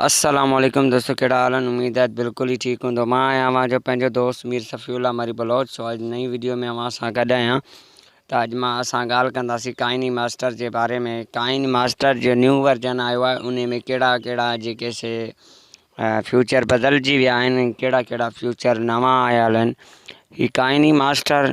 السلام عليڪم دوستو ڪهڙا حال آهن اميد آهي بلڪل ئي ٺيڪ هوندؤ مان آهيان اوهان جو پنهنجو دوست مير صفي الله مري بلوچ سو اڄ نئين ويڊيو ۾ اوهان سان گڏ آهيان ته اڄ مان اسان ڳالهه ڪنداسين ڪائني ماسٽر جي باري ۾ ڪائني ماسٽر جو نيو ورجن آيو آهي ان ۾ ڪهڙا ڪهڙا جيڪي سي فيوچر بدلجي ويا آهن ڪهڙا ڪهڙا فيوچر نوان آيل آهن هي ڪائني ماسٽر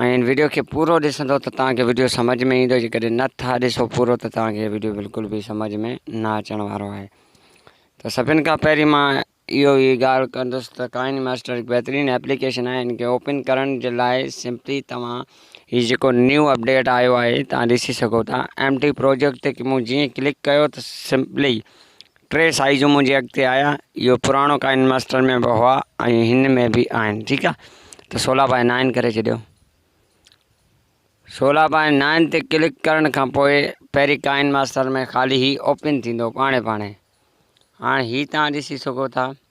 ۽ هن وڊيو کي پورو ڏسندو ته توهان کي وڊيو سمجھ ۾ ايندو جيڪڏهن نه ٿا ڏسو پورو ته توهان کي وڊيو بلڪل به سمجھ ۾ نه اچڻ وارو آهي ته سڀن کان پهرين مان اهو ئي ڳالهه ڪندس ته ڪائن ماسٽر هڪ بهترين ايپليڪيشن آهي ان کي اوپن ڪرڻ جي لاء سمپلي توهان هي جيڪو نيو اپڊيٽ آيو آهي توهان ڏسي سگهو ٿا ايم ٽي پروجيڪٽ تي مون جيئن ڪلڪ ڪيو ته سمپلي ٽي سائيزون منهنجي اڳتي آيا اهو پراڻو ڪائن ماسٽر ۾ به هئا ۽ هن ۾ به آهن ٺيڪ آ ته سولا بائي نائن ڪري ڇڏيو سولا بائي نائن تي ڪلڪ ڪرڻ کان پوء پهرين ڪائن ماسٽر ۾ خالي هي اوپن ٿيندو پاڻي پاڻي هاڻي هي تان ڏسي سگهو ٿا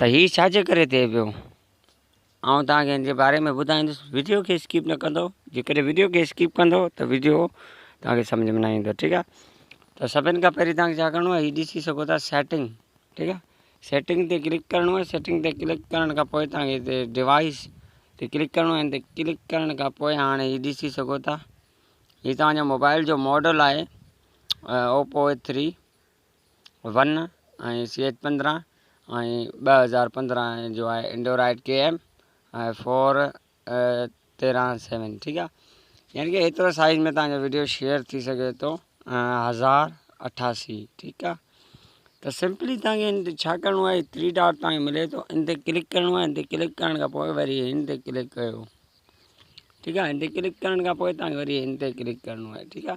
ته هي ڇا جي ڪري ٿئي پيو آئون توهان کي ان جي باري ۾ ٻڌائيندس وڊيو کي اسڪيپ نه ڪندو جيڪڏهن وڊيو کي اسڪيپ ڪندو ته وڊيو توهان کي سمجھ ۾ نه ايندو ٺيڪ آهي ته سڀني کان پهرين توهان کي ڇا ڪرڻو آهي هي ڏسي سگهو ٿا سيٽنگ ٺيڪ آهي سيٽنگ تي ڪلڪ ڪرڻو آهي سيٽنگ تي ڪلڪ ڪرڻ کان پوء توهان کي هتي ڊوائس تي ڪلڪ ڪرڻو آهي هتي ڪلڪ ڪرڻ کان پوء هاڻي هي ڏسي سگهو ٿا هي توهان جو موبائل جو ماڊل آهي Oppo A three one ۽ C H پندرهن ۽ ٻه هزار پندرهن جو آهي انڊورائيڊ ڪي ايم ۽ فور تيرهن سيون ٺيڪ آ يعني ڪي هيترو سائز ۾ تهانجو ويڊيو شيئر ٿي سگهي ٿو هزار اٺاسي ٺيڪ آ ته سمپلي تهانکي ڇا ڪرڻو آهي ٿري ڊاٽ تهانکي ملي ٿو ان تي ڪلڪ ڪرڻو آهي ان تي ڪلڪ ڪرڻ کان پوء وري ان تي ڪلڪ ڪيو ٺيڪ آ ان تي ڪلڪ ڪرڻ کان پوء تهانکي وري ان تي ڪلڪ ڪرڻو آهي ٺيڪ آ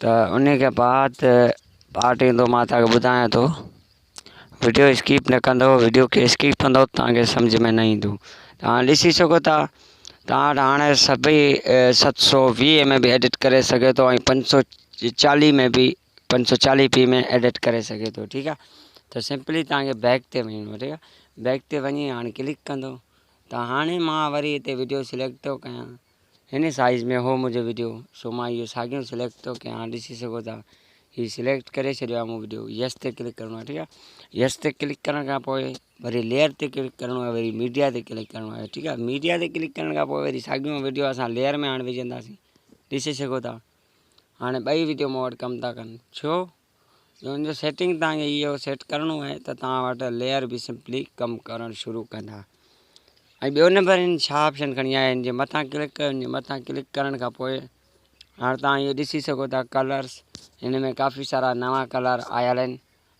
ته انهي کي بعد پارٽ ايندو مان توهان کي ٻڌايان ٿو وڊيو اسڪيپ نه ڪندو وڊيو کي اسڪيپ ڪندو توهان کي سمجھ ۾ نه ايندو توهان ڏسي سگهو ٿا توهان وٽ هاڻي سڀئي ست سو ويهه ۾ به ايڊٽ ڪري سگهي ٿو ۽ پنج سو چاليهه ۾ به پنج سو چاليهه پي ۾ ايڊٽ ڪري سگهي ٿو ٺيڪ آهي ته سمپلي توهان کي بيڪ تي وڃڻو ٺيڪ آهي بيڪ تي وڃي هاڻي ڪلڪ ڪندو ته هاڻي مان وري هتي وڊيو سليڪٽ ٿو ڪيان هن سائيز ۾ هو منهنجو وڊيو سو مان اهو ساڳيون سليڪٽ ٿو ڪيان هاڻ ڏسي سگهو ٿا هي سليڪٽ ڪري ڇڏيو آهي مون وڊيو يس تي ڪلڪ ڪرڻو آهي ٺيڪ آهي يس تي ڪلڪ ڪرڻ کان پوء وري ليئر تي ڪلڪ ڪرڻو آهي وري ميڊيا تي ڪلڪ ڪرڻو آهي ٺيڪ آهي ميڊيا تي ڪلڪ ڪرڻ کان پوء وري ساڳيون وڊيو اسان ليئر ۾ هاڻ وجهنداسين ڏسي سگهو ٿا هاڻي ٻئي وڊيو مون وٽ ڪم ٿا ڪن ڇو ان جو سيٽنگ توهان کي اهو سيٽ ڪرڻو آهي ته توهان وٽ ليئر به سمپلي ڪم ڪرڻ شروع ڪندا ۽ ٻيو نمبر ان ڇا آپشن کڻي آيا ان جي مٿان ڪلڪ ڪيو ان جي مٿان ڪلڪ ڪرڻ کان پوء هاڻ توهان اهو ڏسي سگهو ٿا ڪلرس ان ۾ ڪافي سارا نوان ڪلر آيل آهن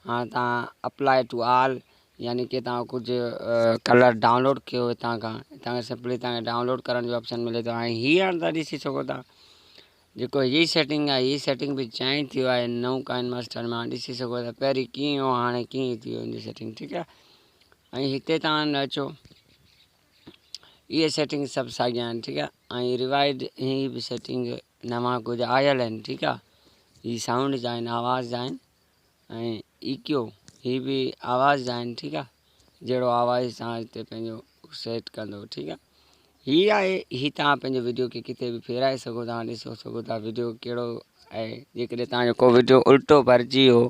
هاڻ توهان اپلاء ٽو آل يعني ڪي توهان ڪجهه ڪلر ڊائونلوڊ ڪيو هتان کان هتان کان سمپلي توهان کي ڊائونلوڊ ڪرڻ جو آپشن ملي ٿو ۽ هي هاڻ توهان ڏسي سگهو ٿا جيڪو ھي سيٽنگ آھي ھي سيٽنگ به چينج ٿيو آھي ھن نئون ڪائن ماسٽر مان ڏسي سگھو ٿا پهرين ڪيئن ھو ھاڻي ڪيئن ٿي ويو ان جي سيٽنگ ٺيڪ آھي ۽ ھتي تان اچو اھي سيٽنگ سڀ ساڳيا آھن ٺيڪ آھي ۽ ريوائيڊ ھي به سيٽنگ نوان ڪجھ آيل آھن ٺيڪ آھي ھي سائونڊ جا آھن آواز جا آھن ۽ ايڪيو هي به آواز آهن ٺيڪ آ جهڙو آواز توهان هتي پنهنجو سيٽ ڪندو ٺيڪ آ هي آهي هي توهان پنهنجو وڊيو کي ڪٿي به ڦيرائي سگهو ٿا ڏسو سگهو ٿا وڊيو ڪهڙو آهي جيڪڏهن توهان جو ڪو وڊيو الٽو ڀرجي ويو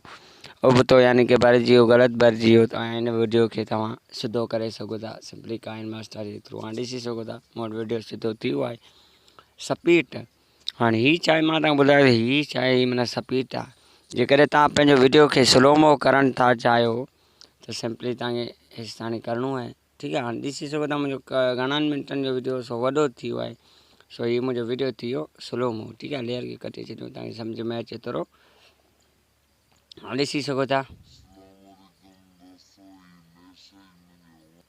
ابتو يعني ڪي ڀرجي ويو غلط ڀرجي ويو توهان هن وڊيو کي توهان سڌو ڪري سگهو ٿا سمپلي ڪائن ماسٽر جي ٿرو هاڻي ڏسي سگهو ٿا مون وٽ وڊيو سڌو ٿي ويو آهي سپيٽ هاڻ هي چائي مان توهان کي ٻڌايو ته هي چائي معنيٰ سپيتا جيڪڏهن توهان پنهنجو وڊيو کي سلومو ڪرڻ ٿا چاهيو ته سمپلي توهان کي هيس تاڻي ڪرڻو آهي ٺيڪ آهي هاڻ ڏسي سگهو ٿا منهنجو گهڻن منٽن جو وڊيو سو وڏو ٿي ويو آهي سو هي منهنجو وڊيو ٿي ويو سلومو ٺيڪ آهي ليئر کي ڪٽي ڇڏيو توهان کي سمجھ ۾ اچي ٿورو هاڻ ڏسي سگهو ٿا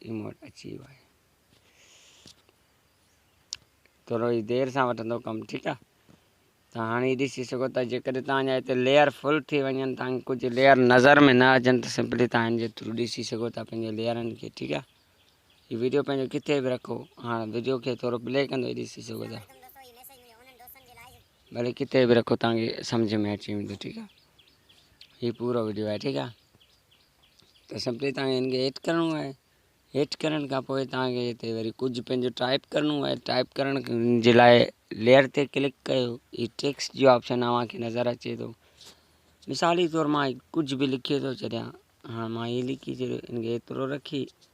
اي مون وٽ اچي ويو آهي. ٿورو ئي دير سان وٺندو ڪم ٺيڪ آ ته هاڻي هي ڏسي سگهو ته جيڪڏهن توهان جا هتي ليئر فل ٿي وڃن توهان ڪجهه ليئر نظر ۾ نه اچن ته سمپلي توهان هن جي ٿرو ڏسي سگهو ٿا پنهنجي ليئرن کي ٺيڪ آ هي ويڊيو پنهنجو ڪٿي به رکو هاڻ ويڊيو کي ٿورو پلي ڪندو هي ڏسي سگهو ٿا ڀلي ڪٿي به رکو توهان کي سمجهه ۾ اچي ويندو ٺيڪ آ هي پورو ويڊيو آهي ٺيڪ آ ته سڀ تي تان کي هن کي هيٺ ڪرڻو آهي هيٺ ڪرڻ کان پوء تان کي هتي وري ڪجهه پنهنجو ٽائپ ڪرڻو آهي ٽائپ ڪرڻ جي لاء ليئر تي ڪلڪ ڪيو هي ٽيڪس جو آپشن اوهان کي نظر اچي ٿو مثالي طور مان ڪجهه به لکي ٿو ڇڏيان هاڻ مان هي لکي ڇڏيو هن کي هيترو رکي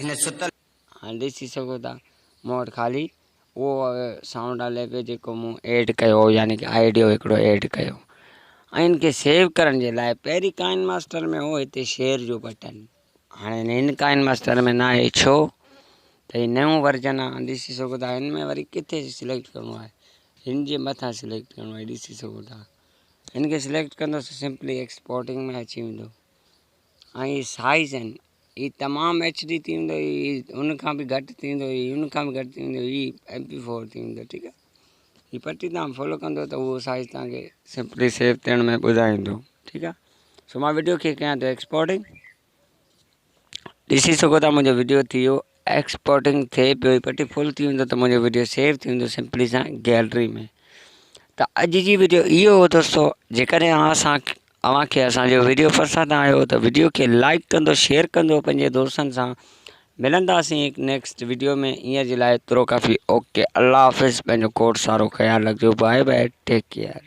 هن ستل. هاڻ ڏسي سگهو ٿا مون وٽ خالي اهو سائونڊ هلي پيو جيڪو مون ايڊ ڪيو هو يعني ڪه آئيڊيو هڪڙو ايڊ ڪيو ۽ ان کي سيو ڪرڻ جي لاء پهرين ڪائن ماسٽر ۾ هو هتي شيئر جو بٽن هاڻي هن ڪائن ماسٽر ۾ ناهي ڇو ته هي نئون ورجن آهي ڏسي سگهو ٿا هن ۾ وري ڪٿي سليڪٽ ڪرڻو آهي هن جي مٿان سليڪٽ ڪرڻو آهي ڏسي سگهو ٿا هن کي سليڪٽ ڪندوسي سمپلي ايڪسپورٽنگ ۾ اچي ويندو ۽ هي سائيز آهن هي تمام ايڇ ڊي ٿي ويندو هي ان کان به گهٽ ٿي ويندو هي ان کان به گهٽ ٿي ويندو هي ايم پي فور ٿي ويندو ٺيڪ آهي هي پٽي تمام فالو ڪندو ته اهو سائيز تمام کي سمپلي سيف ٿيڻ ۾ ٻڌائيندو ٺيڪ آهي سو مان ويڊيو کي ڪيان ٿو ايڪسپورٽنگ ڏسي سگهو ٿا منهنجو ويڊيو ٿي ويو ايڪسپورٽنگ ٿئي پيو هي پٽي فل ٿي ويندو ته منهنجو وڊيو سيو ٿي ويندو سمپلي سان گيلري ۾ ته اڄ جي وڊيو اهو هو دوستو جيڪڏهن اوهان اسان اوهان کي اسانجو وڊيو پسند آيو ته وڊيو کي لائڪ ڪندو شيئر ڪندو پنهنجي دوستن سان ملنداسين هڪ نيڪسٽ وڊيو ۾ هينئر جي لاء ترو ڪافي اوڪي الله حافظ پنهنجو کوڙ سارو خيال رکجو باء باء ٽيڪ ڪيئر